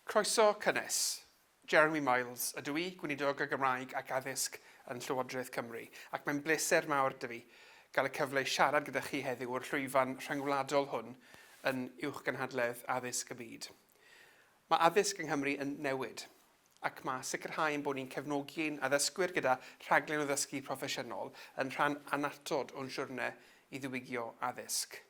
Croeso cynnes. Jeremy Miles ydw i, Gweinidog y Gymraeg ac Addysg yn Llywodraeth Cymru, ac mae'n bleser mawr 'da fi gael y cyfle i siarad gyda chi heddiw o'r llwyfan rhyngwladol hwn yn uwchgynhadledd addysg y byd. Mae addysg yng Nghymru yn newid, ac mae sicrhau ein bod ni'n cefnogi ein addysgwyr gyda rhaglen o ddysgu proffesiynol yn rhan annatod o'n siwrne i ddiwygio addysg.